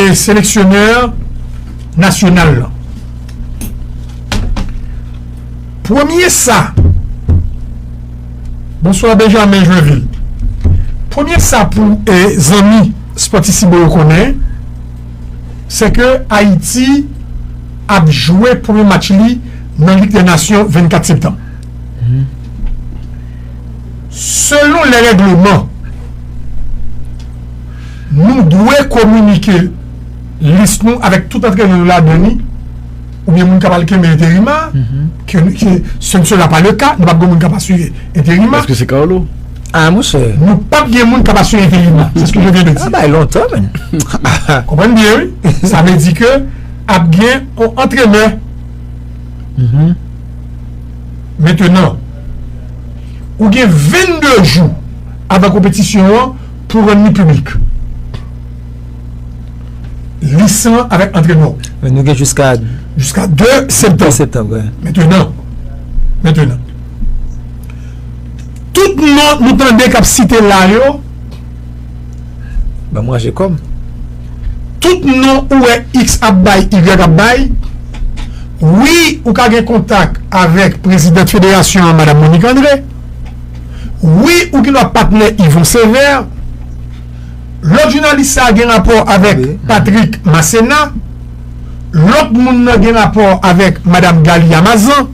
e seleksyonè nasyonal lan. Premye sa Bonswa Benjamin Joinville. Premye sa pou e zanmi Spòtisibo yo konnen, se ke Ayiti ap jwe premye match li nan Lig dè Nasyon 24 septanm. Selon lè règleman, Nou dwe kominike lis nou avèk tout antrenè nou ladan li oubyen moun k ap al kenbe enterim a, ke se n sela pa le ka, nou pa p gen moun k ap asire enterim a. Èske se ka w lou? A monchè. Nou pa p gen moun k ap asire enterim a. Se sak vle di. Sa bay lontan menn. Konprann byen wi. Sa vle di ke ap gen yon antrenè. Mentenan, ou gen 22 jou avan konpetisyon an. Pou rann li piblik. Lis lan avèk antrenè w. Men nou gen jiska. Jiska 2 septanm. 2 septanm, wi. Mentenan. Mentenan. Tout non nou tande k ap site la yo. Ban manje kòm. Tout non ou wè iks ap bay, igrèk ap bay. Wi, ou ka gen kontak avèk prezidant federasyon an, madam Monique André. Wi ou gen dwa patnè Yvon Sévère. Lòt jounalis sa gen rapò avèk Patrick Masséna. Lòt moun nan gen rapò avèk madam Galia Mazan.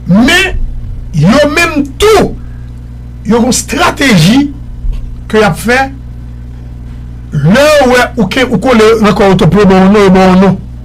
Men yo menm tou yo gen yon strateji ke y ap fè. Lè yo wè ou kole nan kò yo tou pou yo ba w non, yo ba w non.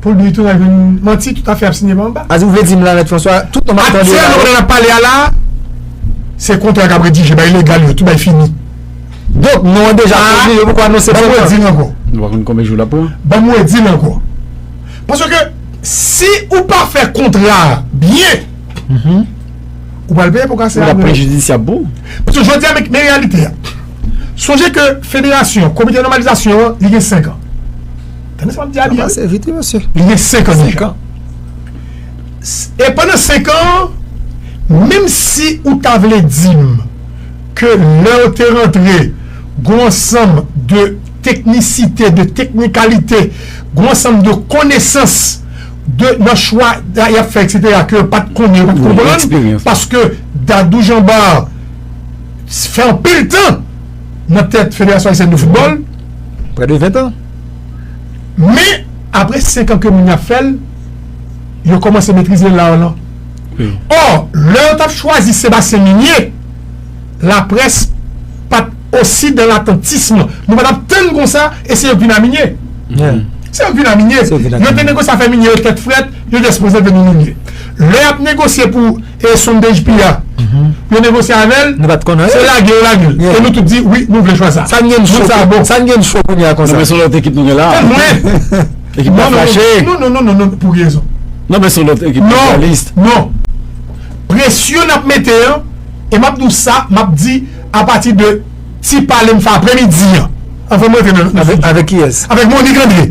Pou l bri tou nan vin manti tout afè ap signe pa anba. Sa di ou vle di m la Mèt Franswa, tout non m ap tande yo la Aktyèlman yo? pandan n ap pale a la, se kontra k ap redije, bay legal yo, tout bay fini. Donk, non an deja pwodwi, yo poko anonse Ban m pran redi l ankò. Nou pa konn konbyen jou l ap pran. Ban m redi l ankò. Paske, si ou pa fè kontra a byen, ou pral peye pou kase Ou a ap apre. prejidisyab pou. Paske jodi a, men men reyalite a. Sonje ke federasyon, komite nòmalizasyon an, li gen senkan. Tande sa map di a byen. Sa pase vit wi mesye. Li gen 55 ans. E pandan 5 ans menm si ou ta vle dim ke lèw te rantre gon ansanm de teknisite, de teknikalite, gon ansanm de konesans de nan chwa yap fè etc ke yo pat konnen, yo pat konprann paske Dadou Jeanbar fè anpil tan nan tèt Federasyon Ayisyèn de Foutbòl. Prè de 20 ans. Men apre 5 an ke moun yo ap fè l, yo kòmanse metrize l an. Ò, lè yo t ap chwazi Sebastien Migné, laprès pa t osi dan latantism. Nou pa t ap tann konsa e se yo k vin a Migné. Se yo k vin a Migné. Yo te negosye afè Migné yo tèt frèt, yo di èske nou se vle nou Migné. Lè y ap negosye pou. E sondej piya yo negosye avèl se lage yo lagel e nou tout di wi nou vle chwa sa moun sa bon. Sa n gen cho kounye a konsa. Non men son lòt ekip nou gen la. E mwen. Ekip la fache. Non non non non non pou ki rezon. Non men son lòt ekip la fache. Non non presyon nap mete an e map di w sa map di a pati de ti pale m fè apremidi an anvan m rantre nan. Avèk kiyès. Avèk Monique Andre.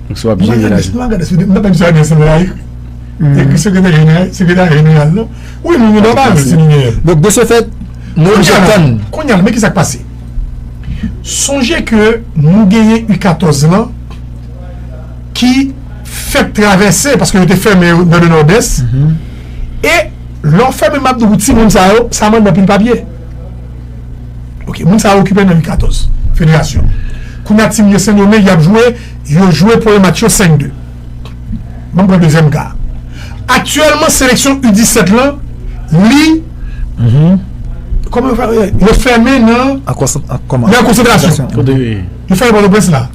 Paske wap jere lajan. Mwen gade sou mwen tande sa gen san la wi. Eki sekretè jeneral sekretè jeneral non. Wi moun yo pa pale si nou gen. Donk de se fèt nou oblije tann. Kounye a men kisa k pase. Sonje ke nou genyen u 14 lan ki fèk travèse paske yo te fèmen yo nan le nòdès e lè w fèmen map di w pou timoun sa yo sa mande anpil papye. Ok moun sa yo okipe nan u 14 federasyon kounya team de sendomeng yap jwe yo jwe premye match yo 5 2 banm pran dezyèm ka aktyèlman seleksyon u 17 lan li yo fèmen nan nan konsantrasyon yo fèmen pòtoprens la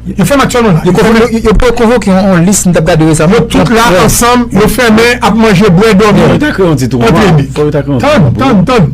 yo fèmen aktyèlman la yo pou konvoke yon lis nou tap gade resaman yo tout la ansanm yo fèmen ap manje bwè dòmi tann tann tann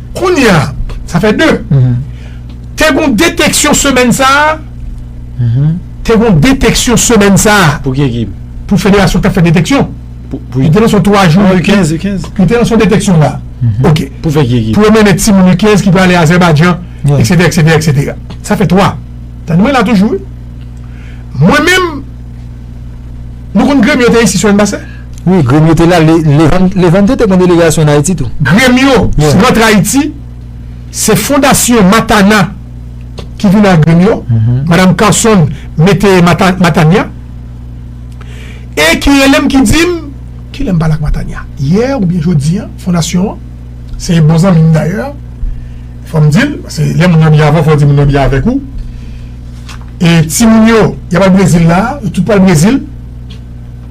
Kounye a, sa fè 2. Te gon deteksyon semèn sa a. Te gon deteksyon semèn sa a. Pou ki ekip? Pou federasyon ki t ap fè deteksyon. Li te nan son 3 jou. U 15, U 15. Li te nan son deteksyon la. Ok. Pou fè ki ekip? Pou yo mennen timoun U 15 ki pou ale Azèbajan, eksetera, eksetera, eksetera. Sa fè 3. Tande mwen la toujou wi. Mwen menm, nou konn gremye te isi sou Annbassè? Wi grim yo te la levante te pran delegasyon an ayiti tou. Grim yo rantre ayiti se fondasyon matana ki vin ak grim yo madam carson mete matanya e ki relem ki dim kilè m pale ak matanya yè oubyen jodi an fondasyon an se bon zanmi m dayè fòm dil paske lè moun nan byen avèw fòw di moun nan byen avèk ou e timoun yo yap al brezil la yo tout pral brezil.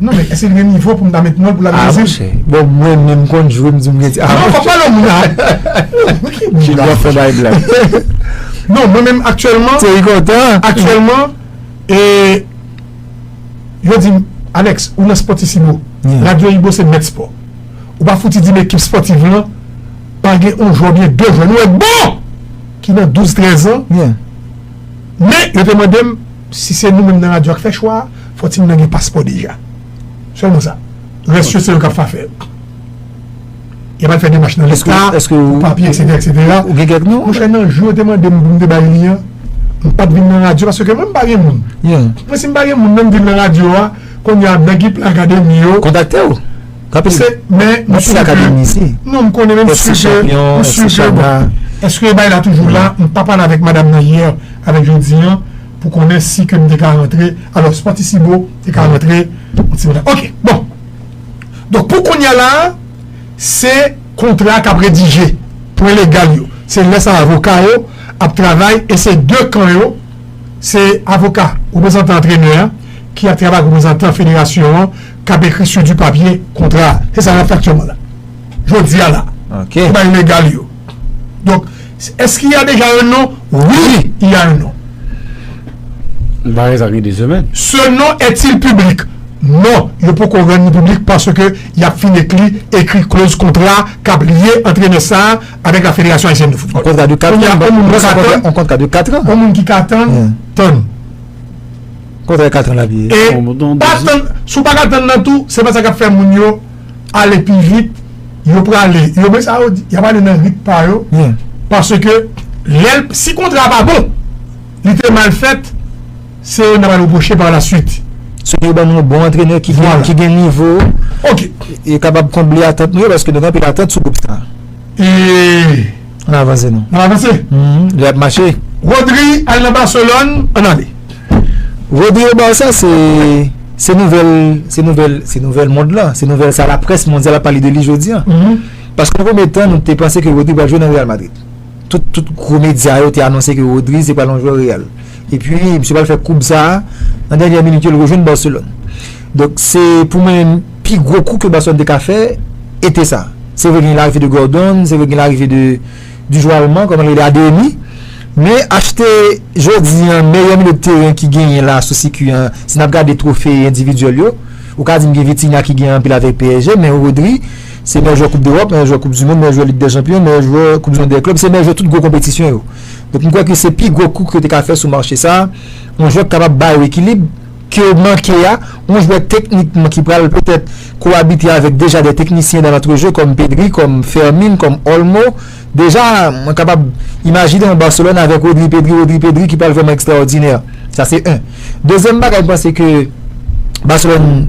Non men eske li gen nivo pou m ta met non l pou l al nan Brezil? Ah monchè, bon mwen menm m konn jwe m di m gen ti avantaj. Non pa pale moun a. Bon ki moun la. Junior fè bay blag. Non mwen menm aktyèlman. Thierry kontan. Aktyèlman e yo di m Alex ou nan Sportissimo, Radio Ibo se mèt spò. Ou pa fouti di m ekip spòtiv lan pa gen yon jwè oubyen 2 jwè nou wè bon ki nan 12, 13 an. Men yo te mande m si se nou menm nan radyo a k fè chwa a. Fò timoun nan gen paspò deja. Sèlman sa. Rès yo se yo k ap fa fè yo. Y ap al fè demach nan leta pou papye eksetera eksetera. Ou gen kèk non? Monchè nan jou yo te mande m pou m te bay li an, m pa t vin nan radyo paske mwen m pa gen moun. Mwen si m pa gen moun nan m vin nan radyo a, kounye a nèg ki pran akademi yo. Kontakte w. Paske men m si akademi si. Non m konnen men m si ke m si ke bon. Èske bay la toujou la? M pa pale avèk madam nan yè avèk jodi an. pou konnen si ke m te ka rantre, alò Sportissimo te ka rantre yon ti monnen. Ok, bon. Donk pou kounya la, se kontra a k ap redije, pwen legal yo. Se lè sa avoka yo ap travay e se 2 kan yo, se avoka, reprezantan antrenè a, ki ap travay ak reprezantan federasyon an, k ap ekri sou di papye kontra a. Se sa n ap fè aktyèlman la. Jodi a la. Ok. Pou bagay legal yo. Donk. Est-ce qu'il y a déjà un nom? Oui, il y a un nom. Bagay sa gen 2 semèn. Ce nom est-il public? Non, yo poko rann li piblik paske y ap fin ekli ekri kloz kontra k ap lye antrenè sa a avèk la Federasyon Ayisyèn de Foutbòl. Kontra de 4 an. Kounye a, yon moun ki ka tann. Yon kontra de 4 an. Yon moun ki ka tann, tann. Kontra 4 an l ap ye. E pa tann, si w pa ka tann nan tou, se pa sa k ap fè moun yo. ale pi vit, yo prale, yo men sa yo di, y ap ale nan rit pa yo, paske lè l, si kontra a pa bon, li te mal fèt, se yo n ap al repwoche pa lasuit. Se pou yo ban nou yon bon antrenè ki gen nivo, e kapab konble atant nou yo, paske nou gen anpil atant sou gwoup sa a. E. An avanse nou. An avanse. Li ap mache. Rodri al nan Barcelone. An ale. Rodri au Barça se se nouvèl se nouvèl se nouvèl mond lan. Se nouvèl sa laprès mondyal ap pale de li jodi an. Paske nan premye tan nou te panse ke Rodri pral jwe nan Real Madrid. Tout tout gwo medya yo te anonse ke Rodri se pral yon jwè Real. Epi misye pral fè koub sa a nan dènyè minit yo li rejwenn Barcelone. Donk se pou mwen Pi gwo kou ke Barcelone te ka fè ete sa. Se vre gen larive de Gordon, se vre gen larive de du jwè alman, kòman li rele, Adeyemi, men achte jodi an meyè milyo de teren ki genyen la sou sikiy an, si n ap gade twofe endividyèl yo, ou ka di m gen Vitinha ki gen anpil avèk psg, men Rodri se meyè jwè koup dEròp, meyè jwè koup du mond, meyè jwè lig dè chanpyon, meyè jwè koup du mond dè klèb, se meyè jwè tout gwo konpetisyon yo. Donk m kwè ke se pi gwo kou ke yo te ka fè sou mache sa, yon jwè ki kapab ba yo ekilib. ke yo manke a, yon jwè teknikman ki pral petèt koabite avèk deja de teknisyen dan lantrejeu kòm Pedri, kòm Fermin, kòm Olmo. Deja, mwen kapab imajine yon Barcelone avèk Rodri, Pedri, Rodri, Pedri ki pral vrèman ekstraòdinè. Sa se 1. Dezyèm bagay m panse ke Barcelone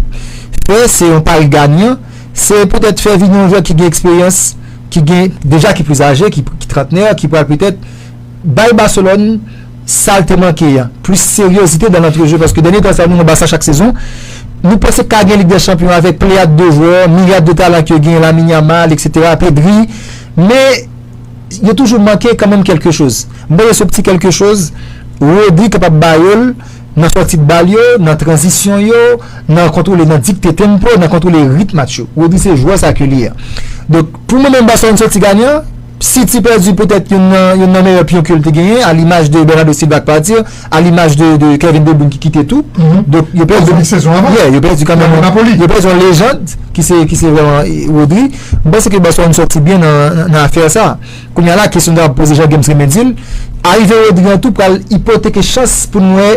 fè, se yon pari ganyan, se petèt fè vini yon jwè ki gen eksperyans, ki gen, deja ki plis aje, ki trantnè, ki pral petèt bay Barcelone, Sal te manke a, plis seryozite dan lantrejeu paske dènye tan sa nou wè Barça chak sezon, nou panse ka gen Lig dè Chanpyon avèk pleyad de jwè, miryad de talan ke gen, Lamine Yamal etc, Pedri, men yo toujou manke kanmenm kelke choz. M panse se pti kelke choz Rodri kapab ba yo l nan sòti de bal yo, nan tranzisyon yo, nan kontwole, nan dikte tempo, nan kontwole rit match yo. Rodri se jwè sa ke li a. Donk pou mwen menm Barcelone sòti ganyan, City pèdi poutèt youn nan youn nan meyè pyon ke l te genyen, a limaj de Bernardo Silva k pati, a limaj de de Kevin De Bruyne ki kite tou. Donk yo pèdi Depi sezon avan. Yeah, yo pèdi kanmenm yon Napoli. Yo pèdi yon lejand ki se ki se vrèman Rodri. M panse ke Barcelone sòti byen nan nan afè sa. Kounya la kesyon ta poze jan Games renmen di l, arive Rodri an tou pral ipoteke chans pou n wè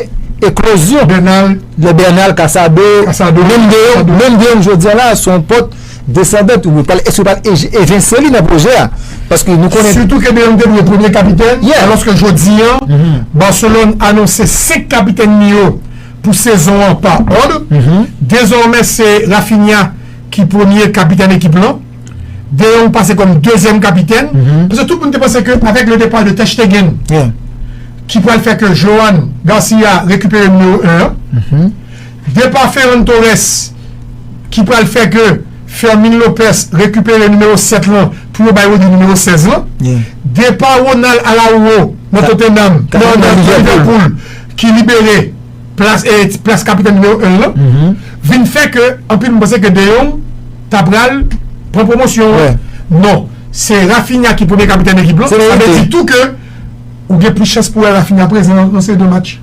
eklozyon Bernal, lè Bernal, Casado, Casado, menm de Casado. menm de jodi a la se yon pòt Desandan tou yo pral eske yo pral evinse li nan pwojè a paske nou konnen. Sitou ke Bale te dwe premye kapitèn alòske jodi an Barcelone anonse 5 kapitèn li yo pou sezon an pa òd. Dezòmè se Raphinha ki premye kapitèn ekip lan. De Jong pase kòm dezyèm kapitèn paske tout moun te panse ke avèk le depart de Ter Stegen ki pral fè ke Johan Garcia rekipere nimewo 1 an. Depa Ferran Torres ki pral fè ke Fermin Lopez rekipere nimewo 7 lan pou yo bay Rodri nimewo 16 lan. Depa Ronald Araujo nan Tottenham, nan Liverpool ki libere plas kapitèn nimewo 1 lan vin fè ke anpil moun panse ke De Jong ta pral pran pwomosyon an. Non, se Raphinha ki premye kapitèn ekip lan. Sa vle di tou ke ou gen plis chans pou wè Raphinha prezan nan seri de match.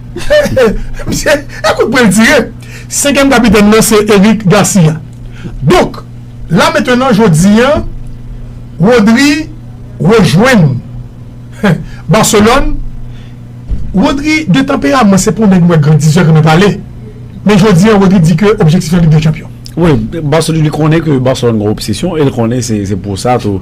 Misye e kout pwen l tire. Senkyèm kapitèn nan se Eric Garcia. Donk, la mentenan jodi a, Rodri rejwenn Barcelone. Rodri de tanperaman se pa yon nèg nou wè grandizè, renmen pale. Men jodi a Rodri di ke objektif li se Ligue des Champions. Wi, Barcelone li konnen ke Barcelone gen obsesyon e l konnen se pou sa tou.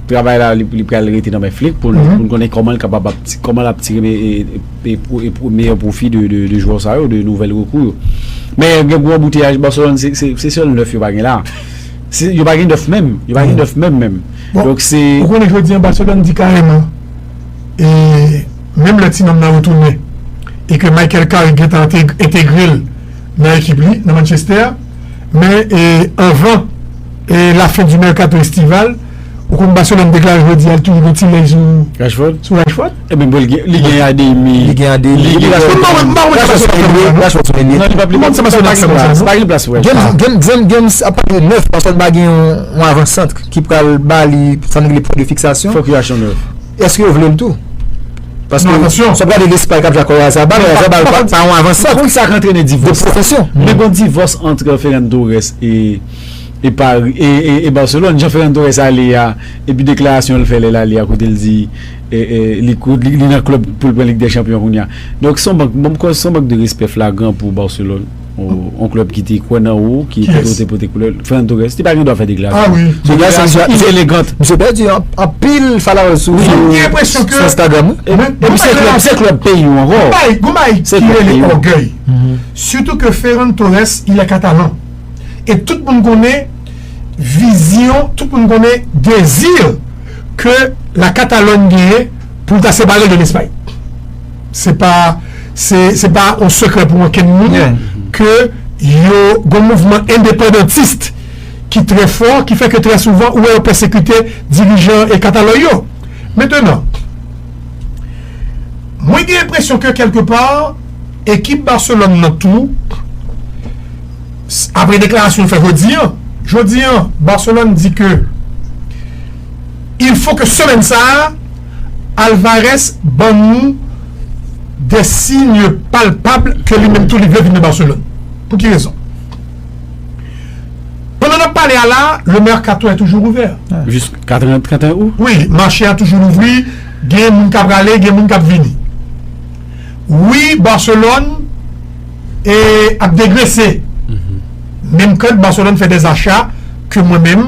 Travay la li pral rete nan men Flick pou n konnen kòman l kapab ap kòman l ap tire meyè pwofi de jwè sa yo, de nouvèl rekrou yo. Men gen gwo anbouteyaj Barcelone se sèl 9 yo pa gen la. Yo pa gen 9 menm, yo pa gen 9 menm menm. Donk se Ou konnen jodi an Barcelone di kareman e menm lè ti nonm nan retounen e ke Michael Carrick gentan entegre l nan ekip li nan Manchester, Men anvan la fen di merkato estival, ou konn Barcelone deklare jodi a li toujou gen ti lèy sou Rashford. E men bon li gen Adeyemi. Li gen Adeyemi. Li gen Rashford. Mpa wè sa sou Rashford. Rashford sou Adeyemi. Mpa wè sa sou Rashford. Mpa gen plas pou Rashford. Gen gen gen apa gen 9 Rashford pa gen yon avan sant ki pral bali sa nou rele pwen de fiksasyon. Fòk yo achte yon 9. Eske yo vle l tou? Paske, Non, atansyon! si w ap gade Lespay k ap jwe ak Oyarzabal, Men, pa, Oyarzabal pa pa konn, pa yon avansant pa konn sa k antrene de divòs sa. pwofesyon. Men gon divòs antre Ferran Torres e, e Pari, e, e, e Barcelone, jan Ferran Torres ale a, epi deklarasyon l fè lè l ale a kote l di, e, e, li kou, li nan klèb pou l pran Lig dè Chanpyon kounya. Donk, s on mank, bon, m kwè s on mank de respè flagran pou Barcelone. On klèb ki te kwè nan ou, ki kote ou te pote koulè, Fernando Torres, li pa gen dwa fè deklarasyon. Ah wi, deklarasyon inelegant. Misye pèdi anpil followers sou Instagram. Epi se klèb, se klèb peyi ou ankò. Gon bagay ki rele ògèy. Sitou ke Ferran Torres, il est catalan. E tout moun konnen vizyon, tout moun konnen dezi ke la Catalogne genyen pou ta separe l de Lespay. Se pa se pa yon sekrè pou okenn moun ke yo gon mouvman endepandantist ki trè fò, ki fè ke trè souvan ou wè yo pèsekite dirijan e katalòy yo. Mentenan, mwen gen enpresyon ke kèlke pa, ekip Barcelone nan tou, apre deklarasyon l fè jodi an, jodi an Barcelone di ke il fo ke semèn sa a, Alvarez ban nou de signe palpab ke li menm tou li vle vin nan Barcelone. Pou ki rezon? Pandan nap pale a la, le mercato est toujours ouvert. Jis ka 31 Août? Wi, mache a toujou louvri, gen moun ka prale, gen moun kap vini. Wi, Barcelone e ap degrese. Menm kan Barcelone fè des achats ke mwen menm,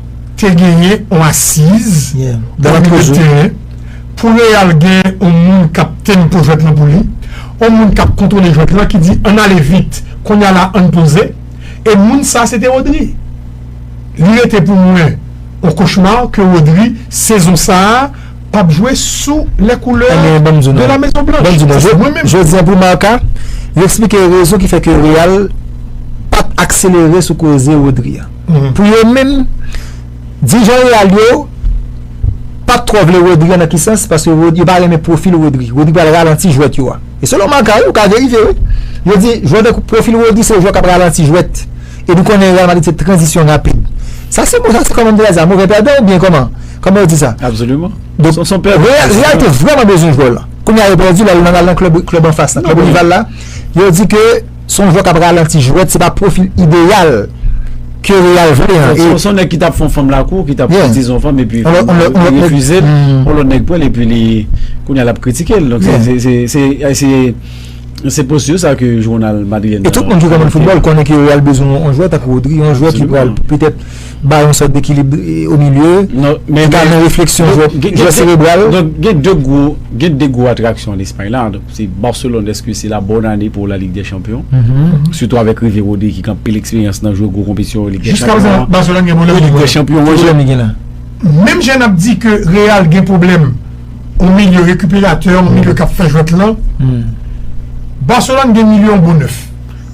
te genyen yon asiz nan milieu de terrain pou Real gen yon moun kap tempo jwèt lan pou li, yon moun kap kontwole jwèt lan ki di ann ale vit kounya la ann poze e moun sa se te Rodri. Li rete pou mwen yon cauchemar ke Rodri sezon sa pap jwe sou les couleurs de la Maison Blanche. Sa se mwen menm. Jodi an pou Marca, li eksplike rezon ki fè ke Real pat akselere sou koze Rodri an. Pou yo menm, dirijan Real yo pa t twò vle Rodri an nan ki sans? Paske yo pa renmen pwofil Rodri. Rodri pral ralanti jwèt yo a. E selon Marca wi, ou ka verifye wi. Yo di jwè tankou pwofil Rodri se jwè k ap ralanti jwèt. E nou konnen Real Madrid se tranzisyon rapid. Sa se bon sa se kòman m te ka di sa? Move pèdan oubyen kòman? Kòman yo di sa? Absoliman. Real te vrèman bezwen jwè w lan. Kounye a yo pèdi l, al nan klèb anfas la, klèb rival la. Yo di ke. Se yon jwè kap ralanti jwèt, se pa pwofil ideyal ke Real vle an. Se yon nèg ki tap fè yon fanm lakou, ki tap fè dizon fanm epi li refize l, yon lòt nèg pran l epi li kounya lap kritike l. Donk se postur sa ke jounal madrilèn nan. E tout moun ki konnen foutbòl konnen ke Real bezwen yon jwè tankou Rodri, yon jwè ki pral petèt bay yon sòt d'ekilib o milye, ki ka nan refleksyon jwè serebral. Donk gen 2 gwo, gen 2 gwo atraksyon an Espay la. Se Barcelone eske se la bonne année pou la ligue des champions surtout avec rive Rodri ki gen anpil expérience nan jwe gwo konpetisyon yo ligue des Jiska prezan champions Barcelone gen pwoblèm ligue des champions Ki pwoblèm li gen la? Menm jan nap di ke Real gen pwoblèm yon milye rekiperatè yon milye kap fè jwèt lan Barcelone gen milye yon bon 9.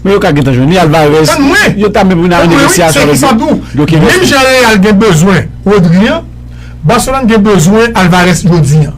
Men yo ka gentan jwenn li Alvarez Tann mwen! yo ta menm vin avèk Tann mwen wi! Se negosyasyon avèk kisa di w, yo ki menm jan Real gen bezwen Rodri an Barcelone gen bezwen Alvarez jodi an.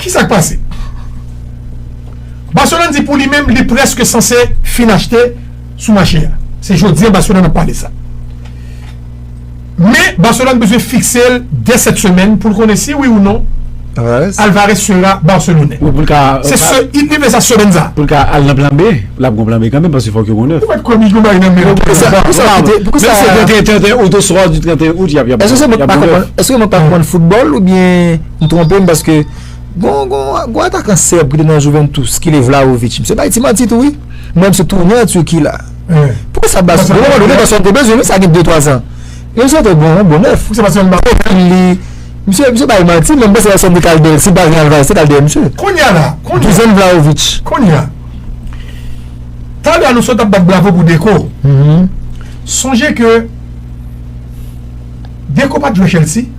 Ki sa k pase? Barcelone di pou li menm li prèske sanse fin achte sou mache a. Se jodi an Barcelone ap pale sa. Men Barcelone bezwen fikse l dè sèt semèn pou l konnen si wi ou non Alvarez sera Barcelone. Se se it rive sa semèn sa. Pou l ka al nan plan B. L ap gon plan B kanmenm paske fòk yo gon 9. Ou pa t kwè Migue bay nan men l. Pou sa pou sa kite pou sa. Menm si se 31 out oswa du 31 out y ap y ap. Eske se mwen k pa konprann eske mwen pa konprann foutbòl oubyen. M twonpe m paske gon gon atakan sèb ki te nan Juventus ki rele Vlahovic misye bay ti manti tou wi mwen misye tounen an Turquie la poukisa sa bas bon moman donné Barcelone te bezwen l wi sa gen 2 3 ans men misye te bon yon bon nèf poukisa Barcelone pa pran li misye misye bay manti men m panse Barcelone te ka al dèyè l si l pa vin al Valence te ka al dèyè misye Kounya la kounya deuxième Vlahovic kounya Xabi Alonso tap bat bravo pou Deco sonje ke Deco pat jwe Chelsea.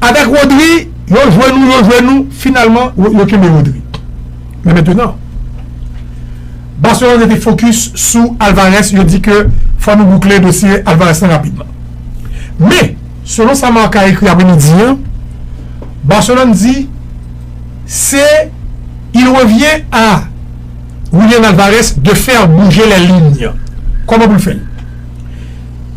Avèk Rodri, yo jwe nou, yo jwe nou, finalman yo kenbe Rodri. Men mentenan, Barcelone rete fokis sou Alvarez, yo di ke fò nou boukle dosye Alvarez lan rapidman. Men, selon sa Marca ekri apre midi an, Barcelone di se il revient à Julian Alvarez de faire bouger les lignes. Kòman pou l fè l?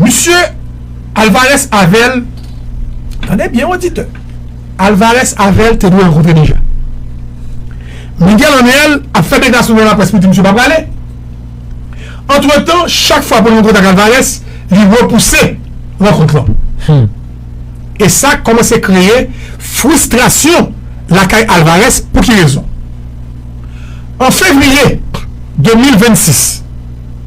Misye Alvarez avèl Tande byen oditè Alvarez avèl te dwe rankontre deja Miguel Angel ap fè deklarasyon devan laprès pou di misye pa prale Antretan chak fwa pou l rankontre ak Alvarez li repouse rankont lan E sa kòmanse kreye fristrasyon lakay Alvarez pou ki rezon An fevriye 2026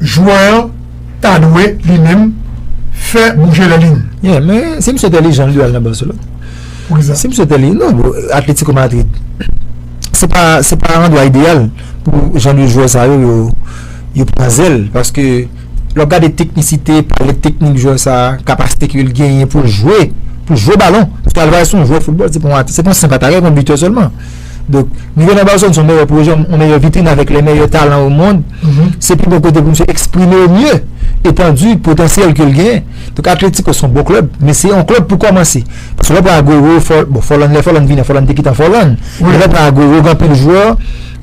Jwè an ta dwe li menm fè bouje lè li. Yeah men si misye t entèlijan li dwe nan Barcelone. Poukisa? Si misye t entèlijan non bro Atletico Madrid se pa se pa andwa ideyal pou jan de jwè sa yo yo pran zèl paske lè w gade teknisite pale teknik jwè sa kapasite ke l genyen pou l jwe pou l jwe balon paske Alvarez se yon jwè foutbòl se pa yon senp atakè se yon bitè sèlman. Donk, rive nan Barcelone se yon meyè pwojè, yon meyè vitrin avèk lè meyè talan o mond. Se pi bon kote pou misye eksprime o mye etandi potansyèl ke l genyen. Donk, Atlético se yon bon klèb, men se yon klèb pou kòmanse. Paske lè w pran Agüero, Fòl, bon, Fòlàn, lè Fòlàn vini an, Fòlàn te kite an Fòlàn. Men lè w pran Agüero, gen anpil jwè,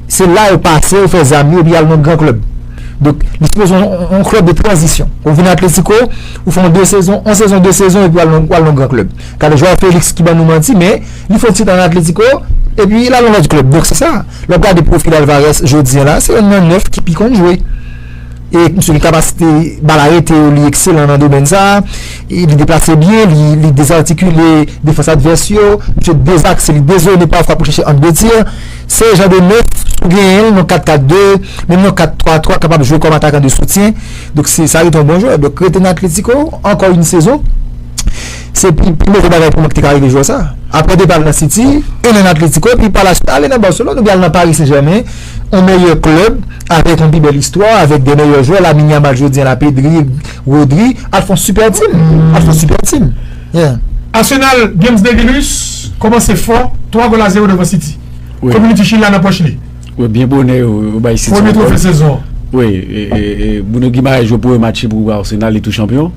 se la yo pase, yo fè zam yo, epi y al nan yon gran klèb. Donk, li sipoze yon, yon klèb de tranzisyon. Ou vini Atlético, ou fè yon de sezon, yon sezon, de sezon epi w al nan, w al nan yon gran klèb. Gade João Félix ki ban nou manti, men. Li fon ti tan nan Atletico, epi lal nan lòt klèb. Donk se sa, lè wap gade pwofil Alvarez jodi an la, se yonn nan 9 ki pi konn jwe. E misye gen kapasite, bal arete yo, li ekselan nan domèn sa. Li deplase byen, li dezartikile defans advès yo. Misye dezakse, li dezone pafwa pou chèche ang de tir. Se jan de 9, si w genyen l nan 4-4-2, menm nan 4-3-3, kapab jwe kòm atakan de soutyen. Donk se sa rete yon bon jwè. Donk rete nan Atletico, ankò yon sezon. Se pi move bagay pou mwen ki te ka rive jwè sa. Aprè depa l nan City, e nan Atletico, epi palasuit ale nan Barcelone oubyen al nan Paris Saint Germain, on meyè klèb avèk on pi bèl istwa, avèk de meyè jwè, Lamine Yamal jodi an la, Pedri, Rodri, al fon sipè tim, al fon sipè tim. Yeah. Arsenal Games Devilus kòmanse fò, 3 gòl a 0 devan City. Community Shield la nan pòch li. Wi, byen bonè yo bay City yon gòl. Premye twofe sezon an. Wi, e Bruno Guimaraes jwe premye match li pou Arsenal, li tou chanpyon.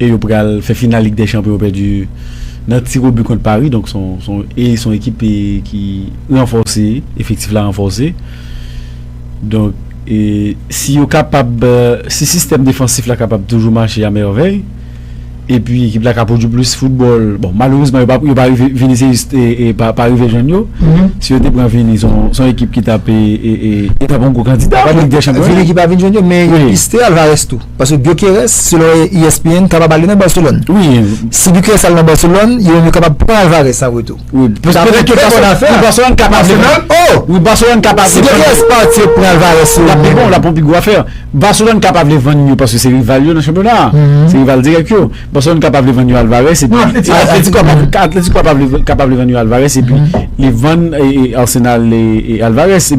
e yo pral fè final lig dè chanpyon yo pèdi nan tir o but kont Paris donk son e son ekip ki ranfòse efektif la ranfòse donk e si yo kapab si sistèm defansif la kapab toujou mache a mèvèy e pi ekip la ka pwodui plis foutbòl bon malerezman yo pa yo pa rive Vinicius e pa pa rive jwenn yo si yo te pran Vini son son ekip ki tap e e e e ta pran gwo kandida pou lig dè chanpyon an Vini ki pa vin jwenn yo men yo piste Alvarez tou. Paske Gyökeres, selon ESPN, kapab ale nan Barcelone. Wi. Si Gyökeres ale nan Barcelone, yo menm yo kapab pran Alvarez an retou. Wi. Dapre ke trè bon afè. Wi, Barcelone kapab. Arsenal? Oh! Wi, Barcelone kapab. Si Gyökeres pati, yo pran Alvarez yo. Lap pi bon, lap pran pi gwo afè. Barcelone kapab vle vann yo paske se rival yo nan chanpyona a. Se rival dirèk yo. Barcelone kapab vle vann yo Alvarez epi. Atletico kapab. Atletico kapab vle vann yo Alvarez epi li vann Arsenal Alvarez epi.